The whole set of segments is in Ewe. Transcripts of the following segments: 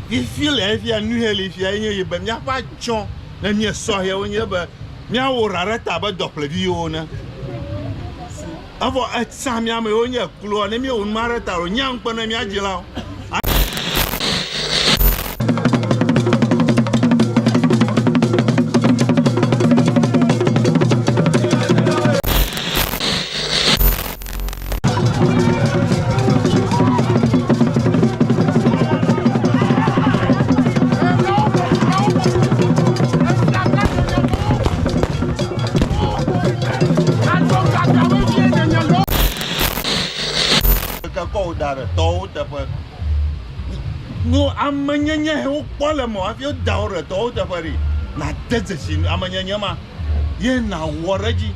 Fifi le efia nuheli fia enye ye be míaƒe atsɔ le mía sɔhɛwo nye be míawɔ ɖa ɖe ta be dɔƒlevi yewo ne. Evɔ etsã mía me yewo nye ekloa ne míewɔ numa ɖe ta lo nye ŋkpe ne mía dzilawo. amenyenye he wokpɔ le mɔ hafi woda wo ɖe tɔwo teƒe ɖi nade dzesi amenyenye ma ye nawɔ ɖe edzi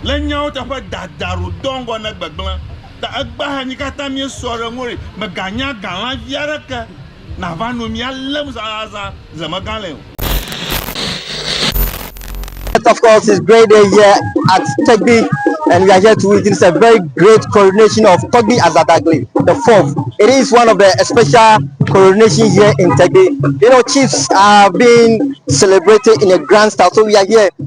Le nyawo teƒe dada ro dɔ ŋgɔ ne gbegblẽ ta egba hanyi kata mie sɔ re ŋori me ga nya ga la vi are ke na va no mia lem za za za ze me ga le o. Of course, it's great day here at Tegbi, and we are here to witness a very great coronation of Togbi Azadagli, the fourth. It is one of the special coronation here in Tegbi. You know, chiefs are being celebrated in a grand style, so we are here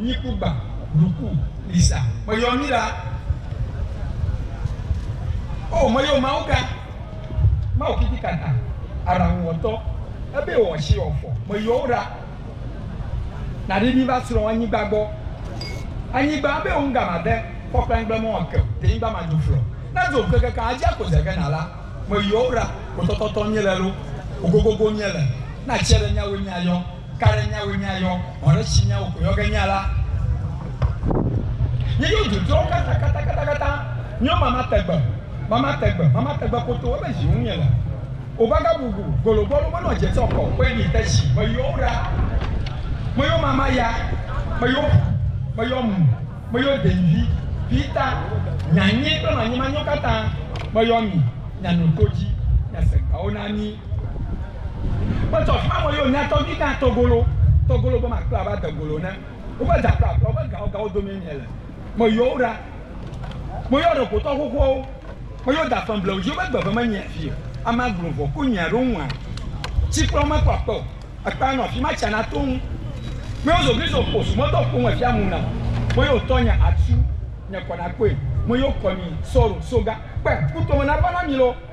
Nyi kugba ɖuku lisa me yɔ mi la o me yɔ mawu ka mawu kiki kata araŋu wɔtɔ ebe wɔ ɔshi wɔ fɔ me yɔ wo ɖa na ɖe mi va srɔ anyigba gbɔ anyigba ebe wo ŋga ma de fɔ kple ŋgble mɔ ake te nyigba ma do flɔ na do ŋke keke adzi ako ze ke na la me yɔ wo ɖa kotɔtɔtɔ nye le lo ogogogo nye le na tsi ɖe nyawo nya yɔ. Ka ɖe nyawoe míayɔ? Vɔ ɖe tsi nyawo ko yɔ ge nya la. Nye yo dzodzɔwo kata kata kata kata nyo mama tegbe mama tegbe mama tegbe koto ebe zi ŋu nye le. O baga bubu golo bɔlu me nɔ dze sɔ kɔ kɔe mi te tsi me yɔwo ɖa. Me yo mama ya me yo ƒu me yɔ mu me yo deŋvi vi ta nya nye kple manyi manyo kata me yɔ mi nya no to dzi nya se gawo na mi. Wotsɔ xɔamɔ yo nya tɔgbi gã tɔgolo tɔgolo be ma kpla ava degolo ne woƒe da kple aƒe woƒe gawo gawo domee mie le. Me yɔwo ɖa. Me yɔ ɖe gotɔ xoxoawo. Me yɔ da femblewo dzi woƒe gbe ve me nyia fi o. Ame aglo vɔ ko nyia ɖo ŋua. Tsi kple wo me kpɔ akpe o. Ekpea nɔ afi ma tsia na to ŋu. Me yɔ zogli zo kposu me dɔ kpoŋ efia mu nam. Me yɔ tɔ nya atsu nye kɔ na kpoe. Me yɔ kɔ mi sɔro soga kpe kutome na va na mi lo.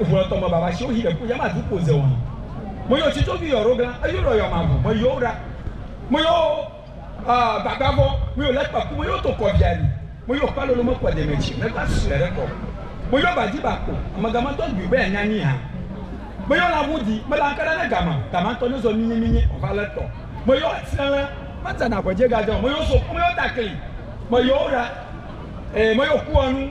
Ŋu lɔ tɔmɔ baba shiwo hi ɖeku yama du kpo zeɔn. Mo yo ci covi yɔ rogla eyo lɔ yɔ mavu mɔ yo ra. Mo yo ɔ gbagba vɔ mo yo lɛ kpaku mo yo to kɔ via ni. Mo yo kpa lolo mekpɔ demɛ ci lɛ gba susuɛ ɖe kɔ. Mo yo ba ji ba kpo amega ma tɔ gbi be anya ni ha. Mo yo la ŋu di mela ŋka ɖa ne gama gama tɔ ne zɔ minyi minyi ɔ va lɛ tɔ. Mo yo atsɛ lɛ. Ma tsa na ŋhwe je ga je ɔ mo yo so kɔ mo yo ta kli mɔ yo ra e mo yo ku ɔ nu.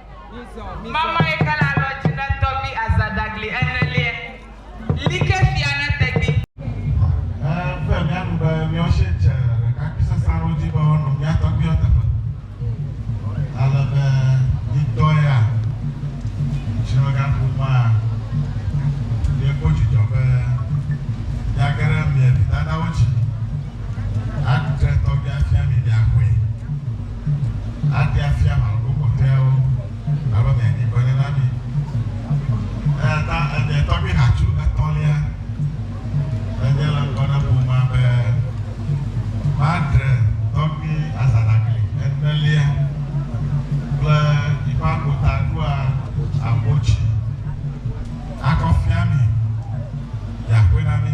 Mama yi ke le alɔ dzi ne tɔvi azadagli ene liɛ, like fia ne tedgbi. He ƒe mía nu be míawo shi dze ɖekakpui sesẽ aɖewo dzi be woanɔ mía tɔgbiwo teƒe, ale be mi ŋutɔ ya, ŋutilɔgaƒomea, miekpɔ dzidzɔ be miage ɖe mia vi dadawo dzi aɖe tɔgbia fia mi miaxɔe. ate afia ame bubu kpɔtɔeawo abe mia nyigbe ene na mi. Eya ta enye tɔgbi hatsu etɔ̃lia enye le ŋgɔ na ƒomea be Madre tɔgbi Azanagli enelia kple yiƒe agota ɖoa agbo tsi akɔ fia mi, yi aƒe na mi.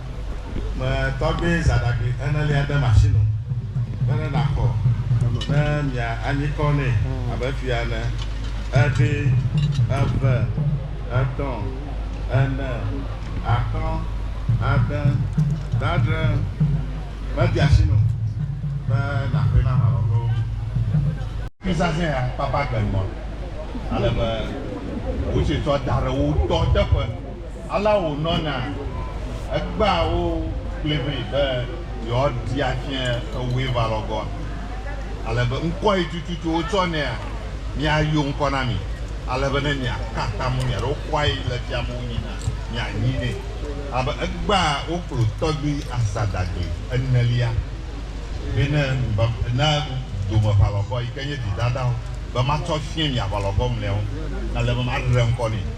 me tɔgbe zãɖagbĩ enelia ɖe masinu be ne nàxɔ ne mia anyikɔ nɛ abe fia ene, eɖe, eve, etɔ̃, ene, atɔ̃, ade, dadre, mede asi nu be nàxɔe na aʋalɔgowo. Fi zazɛ̃ ya kpakpa gbe ŋgɔ ale be wotsi tsɔ da ɖe wo tɔ teƒe. Alea wònɔna. Egbea wo kplii vɛ be yewoaɖi afia ewue va lɔ gɔa? Ale be ŋkɔ ye tututu wotsɔ nɛa? Míayo ŋkɔ na mi, ale be ne miaka atam ŋu miaɖe wokɔa ye le fia me wonyi na mianyi nɛ. Ale be egbea wo kplɔ tɔgbui asadagli enelia vɛ ne na dome ʋalɔvɔ yi ke nye vidadawo be matsɔ afia mi aʋalɔvɔ mlɔeawo ale be maɖe ŋkɔ nɛ.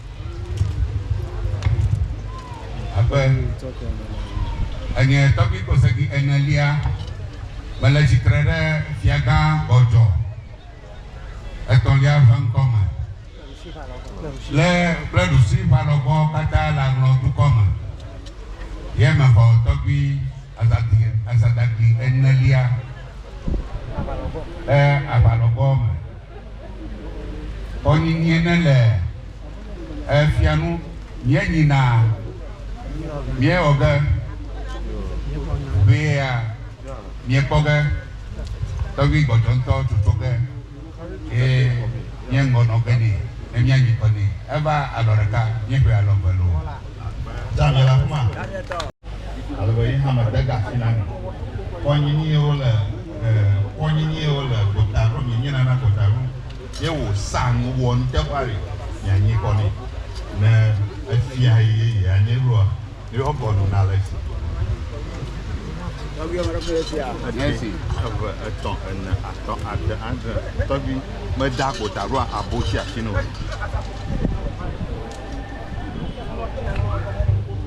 Abe enye tɔgbui kosegi enelia, mele tsitre ɖe Fiagã gbɔdzɔ etɔ̃lia ƒe ŋkɔme, le kple ɖusi ƒe alɔgbɔ katã le aŋlɔ dukɔ me, ye mexɔ tɔgbui azadagli enelia ƒe aʋalɔgbɔ me. Xɔ nyinyie ne le e fia nu mía nyi na mía wɔ ge ʋee a mía kpɔ ge tɔgbi gbɔdzɔ ŋutɔ toto ge eye mía ŋgɔ nɔ ge ne ne mía nyi kɔ ne e va alɔ ɖeka mía ƒe alɔ eve loo. Daniel Akuma. Ale be yi hã me de ga fina mi. Kɔ nyi ni wo le e kɔ nyi ni wo le gota ɖo mi nyi nana gota ɖo. Ye wo sa nu wɔ nu te ƒa ɖe mi a nyi kɔ ni ne e fia yi ye yi a nyi ɖo a mi wɔ kɔ nu na le si. Tɔgbi ame ɖe ƒe si a. Ame si eve etɔ ene atɔ ade adre tɔgbi me da gota ɖo a abo si a si no.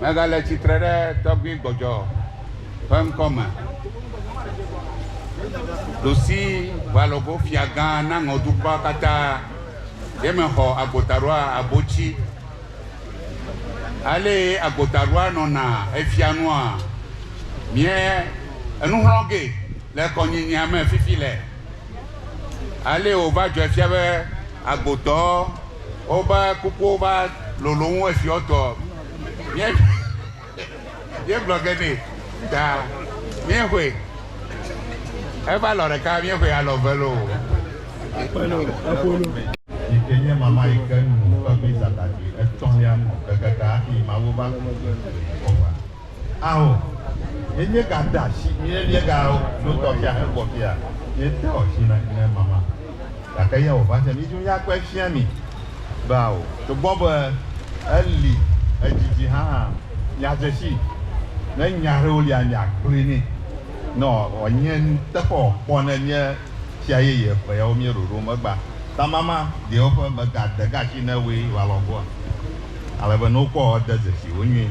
Megale tsitre ɖe tɔgbui gbɔdzɔ ƒe ŋkɔ me, ɖosi ʋalogo fiagã na ŋɔ dukɔa katã, ye mexɔ agbotaɖoa abotsi. Alee agbotaɖoa nɔna efia nua, mie enuxlɔ̃ ge le kɔnyinyea me fifi le. Alee wòva dzɔe fia be agbodɔwo woƒe kukuwo va lolo wu esiɔtɔ. Míe, míegblɔ ge nɛ ta míexɔe. Eva lɔ ɖeka míexɔe alɔ ve loo. Ƒelo, eƒolo. Yi ke nye mama yi ke nu ƒe mizatati etɔ̃lia nu kekeke hafi Mawu va ku Yesu le Yehowa. Ao, yenye ga da shi ye lie ga o no tɔ fia he gbɔ fia ye te ɔ shi na ne mama. Gake ye o va se mi ju ya kpe fia mi be ao to gbɔ be e li ejiji ha ha mi a je shi ne nya ɖewo lia mi a kplui ni nɔ ɔ nye nu teƒe ɔ kpɔ ne mi e fia ye ye ƒe yawo mi ɖoɖo megba ta mama ɖewo ƒe me ga de ga shi ne woe wa lɔ goa. Ale be ne wo kpɔ ɔ de ze shi wo nyui.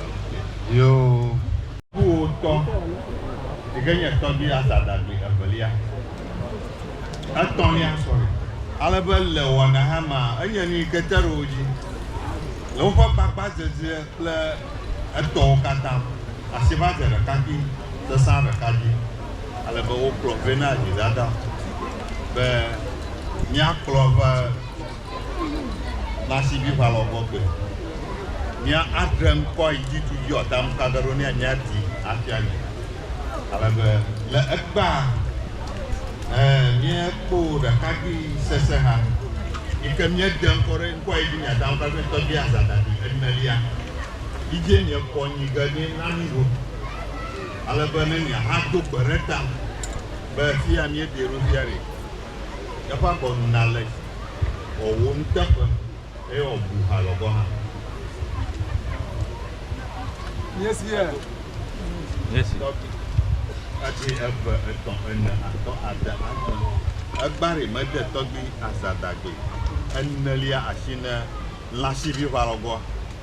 Yoo. Kuwò tɔ, yi ke nye tɔgbui Asa ɖagbe evelia, etɔ̃lia, sorry. Ale be le wɔna hã mea, enye nu yi ke te ɖe wo dzi le woƒe gbagbadzedze kple etɔwo katã asi va dze ɖekakpui sesã ɖeka dzi. Ale be wokplɔ vɛ na Yonadab be, Míakplɔ eƒe. Na si vi ʋalɔ gbɔ gbe. Mia adre ŋkɔ yi dzi tu dzi ɔ tam ka ɖe ɖo nɛ mia di afia mi. Ale be le egbea ɛ mia kpo ɖekagbi sese ha yi ke mia dre ŋkɔ ɖe ŋkɔ yi dzi mia tam ka ɖe tɔgbi aza dabi enelia yi dzi mia kpɔ nyi ge nɛ na mi ɖo. Ale be ne mia ha do gbe ɖe ta be fia mia di ɖo fia ɖe. Eƒe agɔnu nale dzi wòawu nuteƒe eye wòabu halɔ̃ gɔ̃ hã. Míesia. Míesi. Tɔgbi. Ati eve, etɔ̃, ene, atɔ̃, ade, adre. Egbari mede tɔgbi azadagbe enelia asi ne lãsiʋiʋalɔ̃gɔ̃a.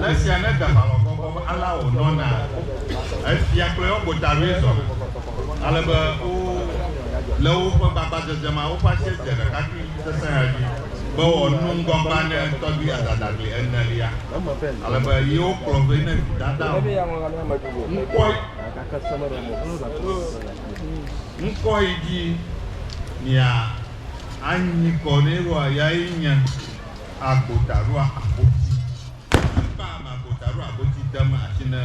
Le esia ne deʋalɔ gbɔgbɔ be alea wònɔna ko, efia kple eƒe gotaloe zɔna, ale be wo le woƒe gbagbadzedze ma woƒe asie dze ɖekakpui sesẽ ya dzi be wòanu ŋgɔgbea ne tɔgbi adadagli enelia, ale be yewo kplɔ vɛ ne vidada o. Ŋkɔe, ŋkɔe dzi mia anyi kɔ nɛ ɖoa, yae nye. Agbotaɖoa Agboti. Ame kpa ame Agbotaɖoa Agboti dem asi ne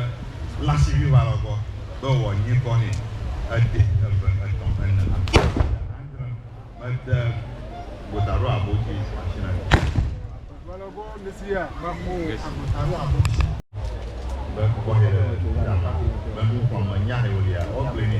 lasiviwalɔ gbɔ be wòanyi kɔ nɛ. Edee eve, etɔ̃, ene alo ƒe adre mede Agbotaɖoa Agboti asi na mi. Be kpɔkpɔ he ɖe eme. Be nukpɔmenya he wòlia, woakplɔe nɛ.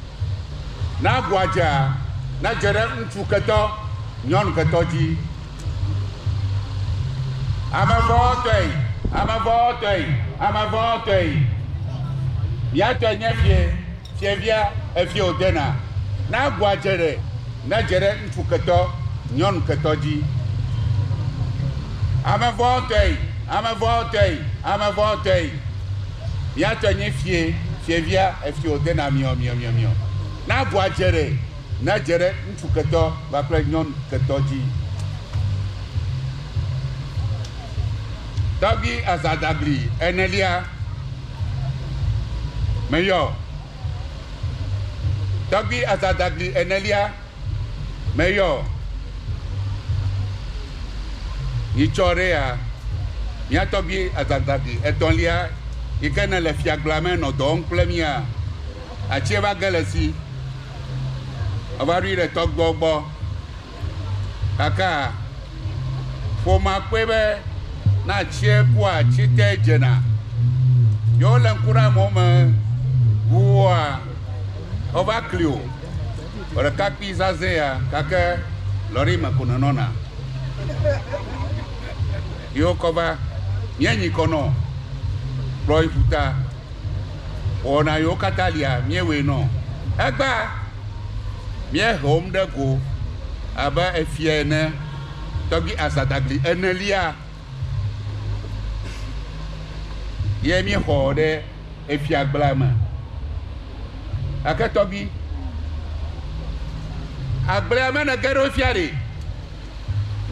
Ne agua dzea, nedze ɖe ŋutsu ketɔ, nyɔnu ketɔ dzi. Ame vɔ̃tɔe, ame vɔ̃tɔe, ame vɔ̃tɔe. Mia tɔe nye fie, fievia, efie wòdena. Ne agua dze ɖe, nedze ɖe ŋutsu ketɔ, nyɔnu ketɔ dzi. Ame vɔ̃tɔe, ame vɔ̃tɔe, ame vɔ̃tɔe. Mia tɔe nye fie, fievia, efio de na miɔ, miɔ, miɔ, miɔ. Na agua dze ɖe, na dze ɖe ŋutsu ketɔ kpakple nyɔnu ketɔ dzi. Tɔgbi azadagli enelia meyɔ. Tɔgbi azadagli enelia. Meyɔ nyitsɔ ɖe ya, mía tɔgbui azazãvi etɔ̃lia yi ke nele fiagblɔa me nɔ dɔ wɔm kple mía. Atsie va ge le esi. Meva ɖoe ɖe tɔgbuiawo gbɔ. Kakaa ƒomea kpɔe be ne atsie ku atsi te dzena. Ye wolé ŋku ɖe amewo me ŋuwua, wova kli o. Ɖekakpui zazɛ ya gake lɔri me ko nenɔna. Yi wokɔ va míenyi kɔ nɔ kplɔ yi ƒuta. Wɔna yiwo katã lia míewɔe nɔ. Egba míehe wo ŋɖe go abe efia ene tɔgbi Azadagli enelia. Ye míexɔ ɖe efiagblea me. Gake tɔgbi, agblea me nège ɖo fia ɖe?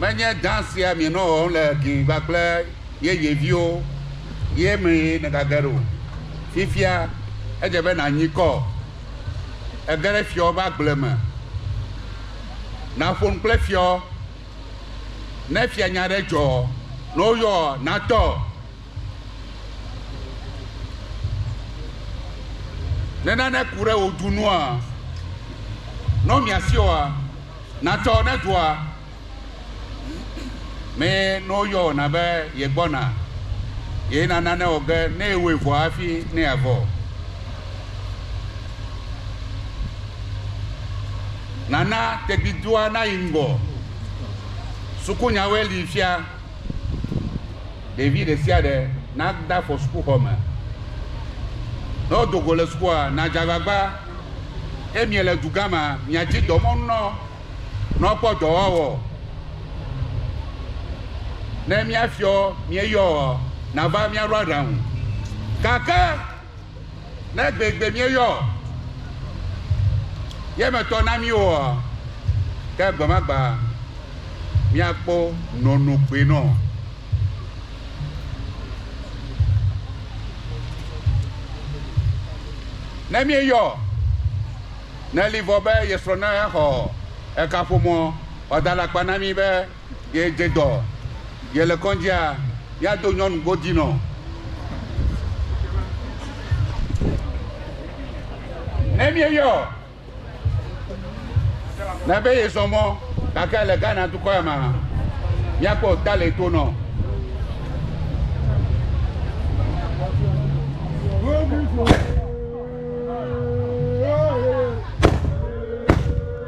Menye dã sia mienɔ wɔm le gli ŋgba kple yeye viwo ye mee nègage ɖo? Fifia edze be nànyi kɔ, ege ɖe fiawo ƒe agble me. Nàƒo nu kple fiawo Ne fianya ɖe dzɔ ne woyɔ natɔ. Ne nane ku ɖe wò du nua, ne womia si oa, natɔ ne dua me ne woyɔ na be yegbɔna, ye na nane wɔ ge ne ewɔe vɔ hafi ne yeavɔ. Nana tegbidua nayi ŋgɔ. Sukunyawoe li fia. Ɖevi ɖe sia ɖe nade afɔ sukuxɔ me. Ne wodo go le sukua, nadze agbagba. Ke miele dugã mea, miadi dɔmɔnu na wo ne wokpɔ dɔ woawɔ. Ne mía fiɔ mieyɔa, nava míaɖo aɖaŋu. Gake Ne gbegbe míeyɔ ye me tɔ na mí oa, ke gbemagba míakpɔ nɔnɔgbe nɔ. Ne míeyɔ ne li vɔ be yesrɔ̃ ne xɔ ekaƒomɔ wòada alakpa na mí be, Ye dze dɔ, ye le kɔndzia, ya do nyɔnu godzi nɔ. Ne mi yɔ, na be ye zɔ mɔ, gake le Ghana dukɔ ya ma, mia kpɔ ta le to nɔ.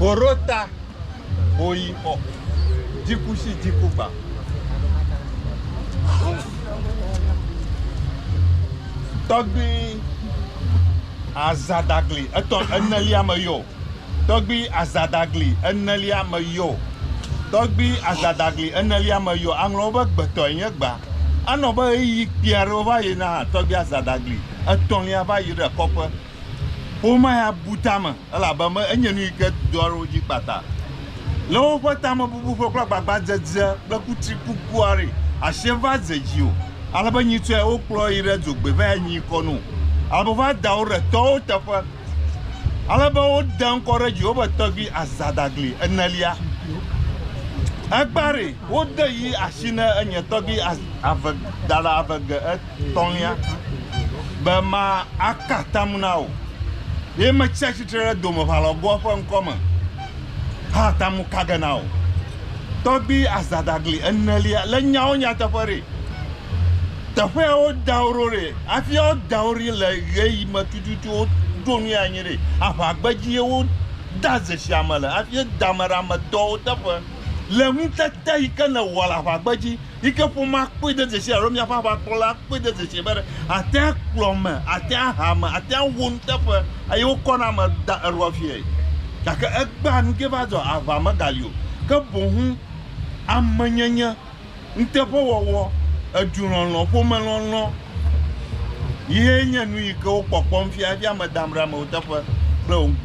Hoɖota, hoyixɔ, dzikusi, dzikugba. Tɔgbui azadagli etɔ enelia me yɔ. Tɔgbui azadagli enelia me yɔ. Tɔgbui azadagli enelia me yɔ. Aŋlɔwo be gbetɔe nye gba. Anɔ be ɣeyiɣi kpui aɖewo va yina hã tɔgbui azadagli etɔ̃lia va yi ɖe kɔƒe. Ƒomea ya bu tame elabe enye nu yi ke doa ɖe wo dzi kpata. Le woƒe tamebubu ƒe kple agbagbadzedze kple kutri kukua ɖi, asie va ze dzi o, ale be nyitsɔe wokplɔ yi ɖe dzogbee va yi nyi kɔ no, ale be va da wo ɖe tɔwo teƒe, ale be wode ŋkɔ ɖe edzi wobe tɔgbi azadagli enelia. Egbea ɖi wode yi asi ne enye tɔgbi ave dada ave ge et. tɔ̃lia be ma aka atam na wò. Ye metsi atsitre ɖe domeʋalɔgoa ƒe ŋkɔ me ha atamu ka ge na wò. Tɔgbi azadagli enelia le nyawo nyateƒe ɖe. Teƒea wo da wo ɖo ɖe. Afia wo da wo ɖi le ɣe yi me tututu wo ɖo nu ya nyi ɖe. Aʋa gbedzi ye wo da zeshia me le. Afie da ame ɖe ame dɔwo teƒe. Le ŋutete yi ke ne wɔ le aʋa gbedzi. yi ke ƒomea kpɔe de dzesi alo míaƒe aʋakplɔla kpɔe de dzesi be atea kplɔ ame, atea ha ame, atea wɔ nuteƒe eye wokɔna ame da eɖoa fiae. Gake egbea nu ke va dzɔ, aʋa megali o, ke boŋu amenyenye, nuteƒewɔwɔ, edulɔlɔ̃, ƒomelɔlɔ̃ ye nye nu yi ke wokpɔkpɔm fia hafi ame dam ɖe amewo teƒe kple wo ŋu.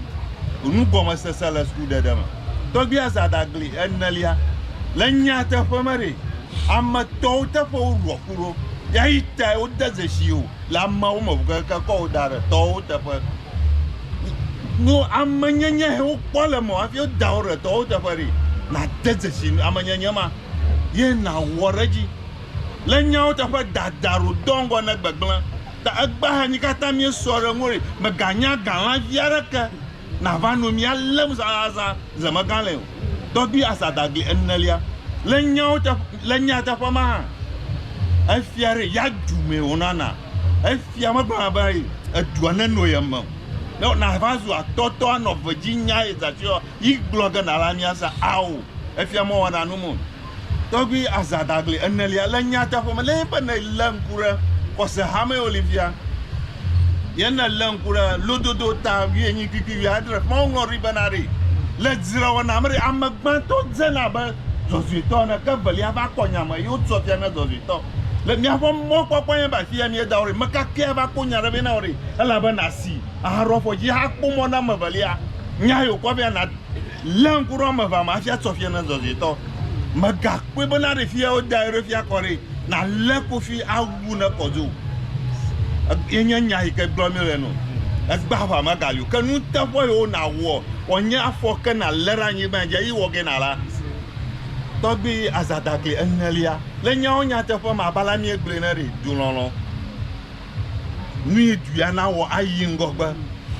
Nugɔmesese le sukuɖeɖe me. tɔgbi azadagli enelia le nyateƒe me ɖe ame tɔwo teƒe wo ɖua ku ɖo ya yi ta wo de zeshi o le ame wo me keke kɔ wo da ɖe tɔwo teƒe no ame nyenye he wo kpɔ le me afi wo da wo ɖe tɔwo teƒe ɖe na de zeshi ame nyenye ma ye na wɔ ɖe dzi le nyawo teƒe dada ro dɔ ŋgɔ ne gbegblẽ ta egba hanyi katã mi sɔ ɖe ŋori me ganya galã via ɖe ke nava no mía lém zazazã zemegã le o, tɔgbi asadagli enelia. Le nyawo te, le nyateƒe ma hã, efia ɖe ya du mee wònana. Efia megblɔna be edua neno ye me o. Ne nava zu atɔtɔ anɔ ve dzi nya ye zã tsoe yi gblɔ ge na la mía se ao. Efia mɔwana nu me o. Tɔgbui Asa Dagli enelia le nyateƒe me le eƒe ne lé ŋku ɖe xɔse hame Olivia ye ne lé ŋku ɖe lododo ta wienyi kpikpi wiadre ƒe woŋlɔ ɖi bena ɖi le dzrewɔna me ɖi ame gbãtɔ dzena abe dzɔdzɔetɔ ene ke evelia va kpɔ nya me ye wotsɔ fia ne dzɔdzɔetɔ le miaƒe mɔkpɔkpɔ nye ba fia miedawo ɖi mekakea va kpɔ nya ɖe be na wo ɖi elabe nasi ahaɖo afɔ dzi hakpɔ mɔ na ame evelia nya yi wokɔ fia na Lé ŋku ɖe woame evea me hafi atsɔ fia na zɔzɔetɔ. Mègakpɔe be ne aɖe fia alo da eɖokuia kɔ ɖee nàlé kofi awu ne kɔ dzi o. Ye nye nya yi ke gblɔm míele ene o. Egbea aʋa megali o. Ke nuteƒe yiwo nàwɔ wòanye afɔ ke nàlé ɖe anyigba dzi eye wɔ ge nàla tɔgbi azadakli enelia. Le nyawo nyateƒe me abe ale míegblɔe ene ɖe, dulɔlɔ̃. nuyi duya nawɔ ayi ŋgɔgbe.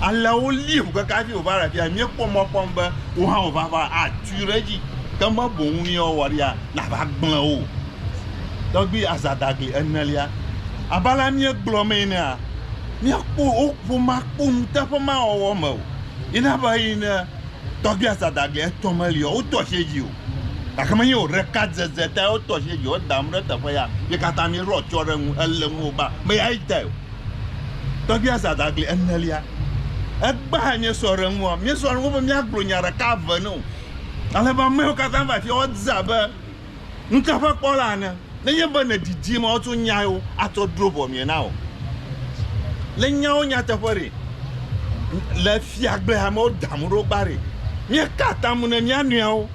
Alea wolii ƒu keke hafi wòva le afi ya. Míekpɔ mɔ kpɔm be wò hã wò vava atui ɖe edzi ke me boŋ nu ye woawɔ ɖia, nàva gblẽ wo o. Tɔgbui Azadagli enelia, abe alea míegblɔ mee enea, míakpɔ wò ƒomea kpɔ nuteƒe mawɔwɔ me o. Yi na be yi ne Tɔgbui Azadagli etɔ meli o, wodoa asi dzi o. Gake menye wò ɖeka dzedze tae wotɔ asi ɖe dziwò dam ɖe teƒe ya. Mi katã miɖo atsyɔ̃ ɖe eŋu, ele ŋuwò be ame ya adae o. Tɔgbia Zadagli enelia, egbea míesɔ ɖe eŋua? Míesɔ ɖe eŋu be míagblɔ nya ɖeka eve nɛ o. Ale be amewo katã va afi ya, wodze abe nuteƒekpɔla ene. nenye be nèdidi mɔ woatsɔ nyawo atrɔ dro ʋɔ mie na wò. Le nyawo nyateƒe ɖe, le fiagblea me woda mo ɖo gba ɖe, míeka atam ne mía nɔewo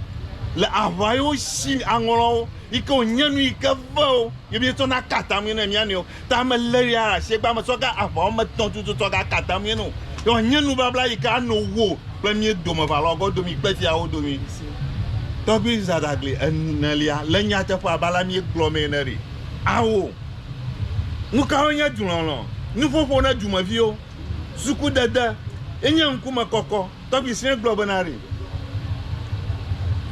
le aʋa yi wosi aŋlɔwo yi ke wònye nu yi ke vewo ye míetsɔna ka atamee ne mía nɔewo. Ta me lé ya asiegba me tsɔ ga aʋa wɔme etɔ̃ tutu tsɔ ga kata mie no. Yɔ nye nubabla yi ke ano wo kple mie dome va lɔ gɔ domi kpe fia wo domi. Tɔgbi Zadagli enelia le nyateƒe abe ale mie gblɔ mee ne ɖi. Awo. Nukawo nye dulɔlɔ? Nuƒoƒo ne dumeviwo. Suku dede. Enye ŋkume kɔkɔ. Tɔgbi Srɛ gblɔ bena ɖe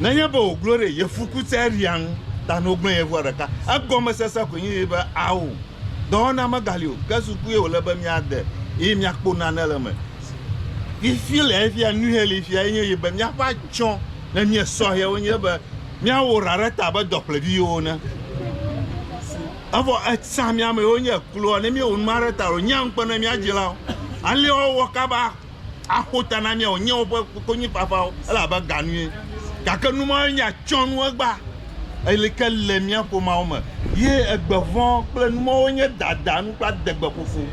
nenye be wòglo ɖe ye fukutsɛria ŋu ta ne wogblẽ ye ŋua ɖeka, egɔmesese koe nye be ao, dɔwɔna megali o, ke sukue wòle be míade eye míakpɔ nane le eme. Fifi le efia, nuhe li fia enye ye be míaƒe atsyɔ̃ ne míe sɔhɛwo nye be míawɔ ɖa ɖe ta abe dɔƒleviwo ene. Evɔ etsã mí amewo nye kloa ne míewɔ nu ma ɖe ta o, nyea ŋukpe ne mía dzilawo alea wɔ kaba. aƒo ta na mía o, nye woƒe konyifafawo ele abe ga nue. Gake nu mawoe nye atsyɔ̃nuegba li ke le mía ƒomeawo me, ye egbe vɔ̃ kple nu mawoe nye dada nu kple adegbeƒoƒo.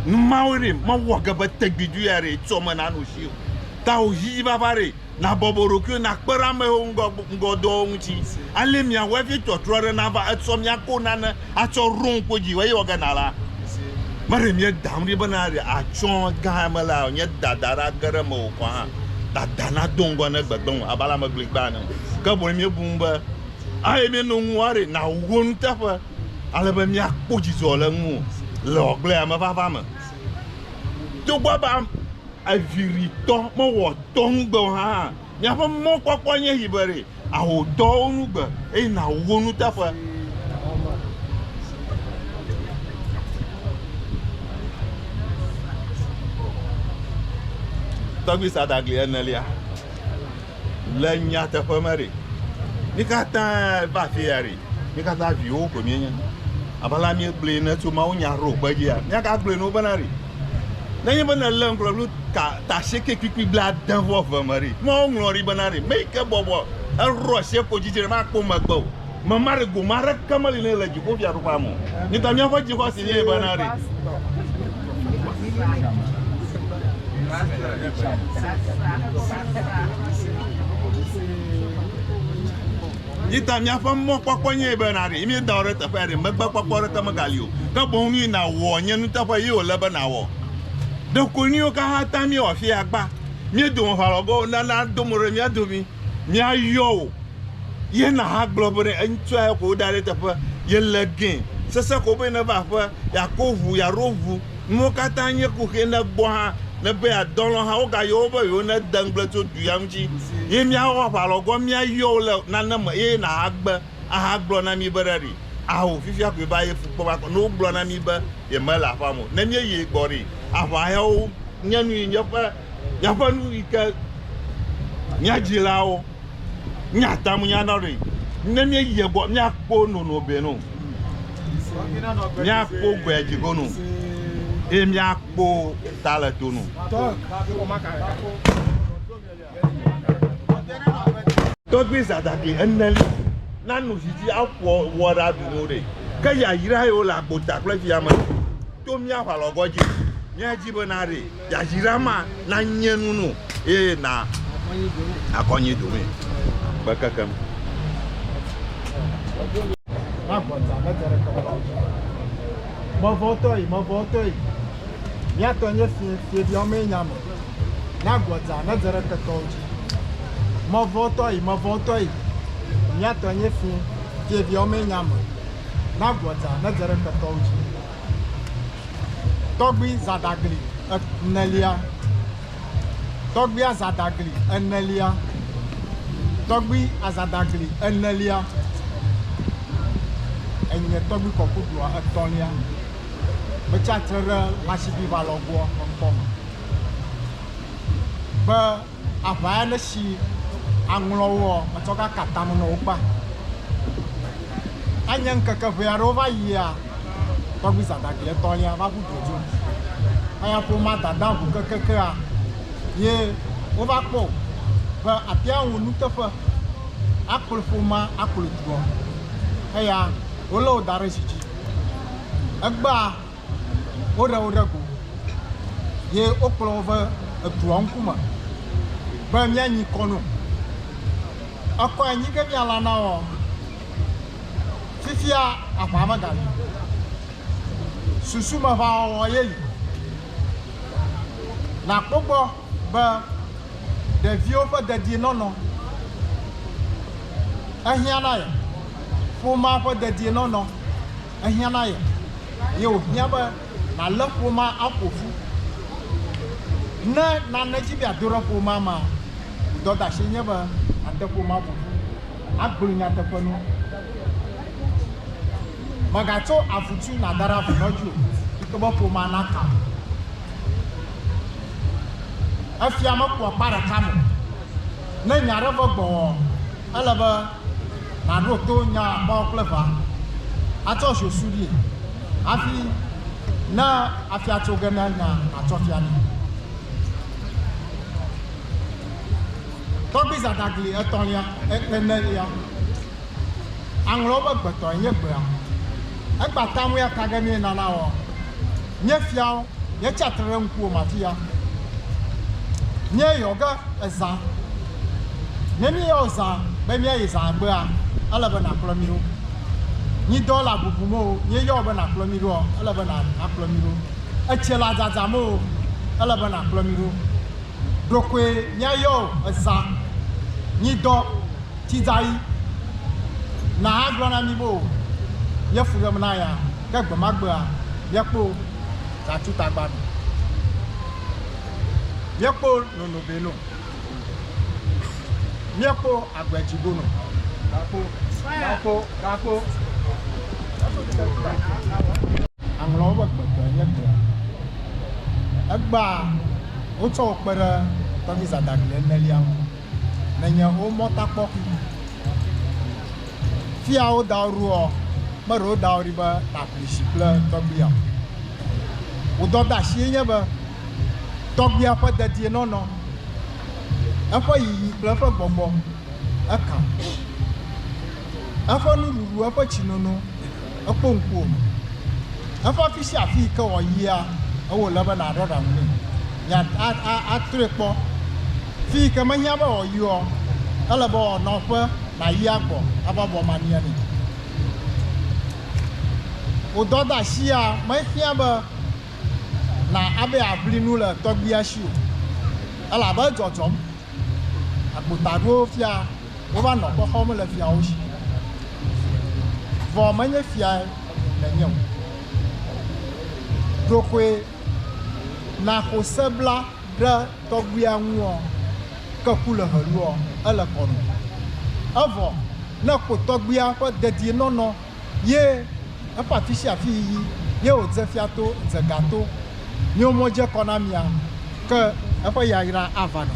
Nu mawoe ɖee mewɔ ge be tegbedoea ɖee tsɔ menano si o. Tawò hihifafa ɖee Nàbɔbɔ ɖokuiwò nàkpe ɖe ame hewo ŋgɔ ŋgɔdɔwo ŋuti, ale mia wevi tɔtrɔ aɖe nava etsɔ mia ko nane atsɔ Rom ƒe dzi. Eye wɔge nala, meɖe mia dam ɖi bena ɖe atsɔ gã eme la, nye dada ɖa ge ɖe mewò kɔ hã. Dada nado ŋgɔ ne gbegblẽ wò abe ale ame gbligbã ene o. Ke boŋ míebu ŋu be ale míeno ŋu woa ɖe nàwu wo nuteƒe, ale be míakpɔ dzidzɔ le ŋuwò le wò agbleamevava me. Togbɔ be ame. Eviritɔ mewɔ dɔ nugbe o hã. Miaƒe mɔkpɔkpɔ nye yi be ɖe àwɔ dɔwo nugbe eye nàwu wo nuteƒe. Tɔgbui Sadagli enelia, le nyateƒe me ɖe, mi katã va afi ya ɖe, Mí katã viwo koe míenye. Abe ale míegblɔe ne tso mawunya ɖo kpe dzia, míagagblɔe ne wobena ɖi. Nenye be nèlé ŋkplɔ blu ta tasieke kpikpi blaade vɔ eve me ɖi, Mawu ŋlɔ ɖi bena ɖi, Meyi ke bɔbɔ eɖɔ sie ko dzi dzi ɖe makpɔ megbe o. Mema ɖi gome aɖeke meli nɛ le dziƒofiaɖuƒea me o. Mí ta míaƒe dzixɔse nɛ bena ɖi. Yi ta míaƒe mɔkpɔkpɔ nye be nàɖe, yi míeda wò ɖe teƒe aɖe, megbekpɔkpɔ aɖeke megali o, ke boŋ nu yi nàwɔ nye nuteƒe ye wòle be nàwɔ. Ɖeko nu yiwo katã ta míewɔ afi ya gbã, mía dome ʋã lɔ ge o, nana do mo ɖe mía domi, míayɔ wò, ye nàgblɔ be ne ŋutsua ye ko woda ɖe eteƒe, yele gẽ, sesẽ ko be neva aƒe, yeako ʋu, yeaɖo ʋu. Nuwo katã nye kuxi ne gbɔ hã ne be yeadɔ lɔ hã wogayɔ wo be yewo ne de ŋgble tso du ya ŋuti ye miawɔ aʋa lɔ gɔn mia yɔ wo le nane me ye naha gbe aha gblɔ na mi be ɖa ɖi aho fifia koe va ye fukpɔ va kɔ ne wo gblɔ na mi be ye me le aƒa me o ne mie yi ye gbɔ ɖi aʋa ya wo nye nu yi nye ƒe miaƒe nu yi ke mia dzilawo. Míate ŋu ana ɖee ne míeyi egbɔ míakpɔ nono be no, míakpɔ gbea dzi go no, eye míakpɔ ta le to no. Tɔgbui Zadaki eneli nanu vivi aƒo wɔ ɖa ɖu no ɖe, ke yayra yewo le agbota kple via me to mía ʋalɔgɔ dzi. Míadi be na ɖee. Yayra ma nanye nu nò, eye na nàkɔ anyi dome kpe kekem. Mevɔtɔe, mevɔtɔe, mía tɔ nye fiẽ, fiẽviawo mee nye ame, na gbɔdzaa nedze ɖe ketɔwo dzi. Mevɔtɔe, mevɔtɔe, mía tɔ nye fiẽ, fiẽviawo mee nye ame, na gbɔdzaa nedze ɖe ketɔwo dzi. Tɔgbui Zadagli enelia Tɔgbuia Zadagli enelia Tɔgbui Azadagli enelia Enye tɔgbui kɔkudua etɔ̃lia. Metsi atre ɖe Lashidivalogbua ŋkɔ me be aʋa ya ne si aŋlɔ woɔ, metsɔ ga ka tame nɔ wo kpa. Anye ŋkeke ʋɛ aɖewo va yia, tɔgbui Zadagli etɔ̃lia va ʋu dodzi ŋu. Eya ƒomea dada ŋu kekekea ye wova kpɔ be atea ŋu nuteƒe akplɔ ƒomea akplɔ dua. Eya wolé wo da ɖe zi dzi. Egbea. Woɖe wo ɖe go ye wokplɔ wo va edua ŋkume be míanyi kɔ no. Ekɔe nyi ge míalã na wo. Fifia aʋa meganyo. Susumeʋawɔwɔ ye li. Nàkpɔ gbɔ be ɖeviwo ƒe dedienɔnɔ ehiã na ye. Ƒomea ƒe dedienɔnɔ. ehiã na ye, ye wòhiã be nàlé ƒomea aƒo ƒu. Ne nane dzi be yeado ɖe ƒomea mea, wò dɔdeasie nye be nàte ƒomea ƒo ƒu, agblɔ nyateƒe na wo. Mègatso avutui nàda ɖe avenɔ dzi o, togbɔ be ƒomea naka o. Efia mekua akpa ɖeka me o. Ne nya aɖe ve gbɔwɔɔ, ele be. maɖo to nya akpawo kple ʋa, atsɔ zosu ɖi hafi ne afia tso ge na nya nàtsɔ fia nɛ. Tɔgbui Zadagli etɔ̃lia, enelia, aŋlɔwo be gbetɔe nye gbea. Egba ta ŋui aka ge mí nana wɔ. Nye fiawo, yetsi atsitre ɖe ŋkuwòme afi ya. Nye yɔ ge èzã. Ne míeyɔ zã be míayi zã egbea, ele be nàkplɔ mí ɖo. Nyi dɔ la bubum o, nye yɔ be nàkplɔ mí ɖoa, ele be nàkplɔ mí ɖo. Etsie la dzadzam o, ele be nàkplɔ mí ɖo. ɖokoe miayɔ o eza nyi dɔ tsidayi na a gblɔ na mi bo ye fu ɖem na ya ke gbe ma gbea ye kpo za tsu tagba nu ye kpo nono be no mie kpo agbe dzi go no gakpo gakpo gakpo Aŋlɔwo ƒe gbegbe nye gbe. Egbea wotsɔ wo kpe ɖe tɔvi zãdaɖi enelia ŋu. Menye wo mɔtakpɔkui. Fia wo dawo ɖoɔ, meɖe wo dawo ɖi be nàƒli tsi kple tɔgbuia o. Wò dɔdeasiee nye be tɔgbuia ƒe dedienɔnɔ, eƒe yiyi kple eƒe gbɔgbɔ, ekam, eƒe nuɖuɖu, eƒe tsinono, Ekpɔ ŋkuwòme. Eƒe afi sia afi yi ke wòayia, ewɔ le be nàɖɔ ɖaŋu nɛ. Nya a, a, atrɔe kpɔ. Fi yi ke mehiã be wòayioa, ele be wòanɔ eƒe nàyi agbɔ ava bɔ mamia nɛ. Wò dɔdeasia mehiã be nà, abe yeaʋli nu le tɔgbuia si o, elabe edzɔdzɔm. agbotaɖowo fia wova nɔ kpe xɔm le fiawo si. Vɔ menye fiae nènye o. Ɖokoe nàxo se bla ɖe tɔgbuia ŋuɔ, ke ku le heluɔ, ele kɔ nɔ. Evɔ ne kpo tɔgbuia ƒe dedienɔnɔ ye eƒe afisiafi yiyi ye wòdze fia to dze ga to míwo mɔ dze kɔ na mia ke eƒe yayra ava nɔ.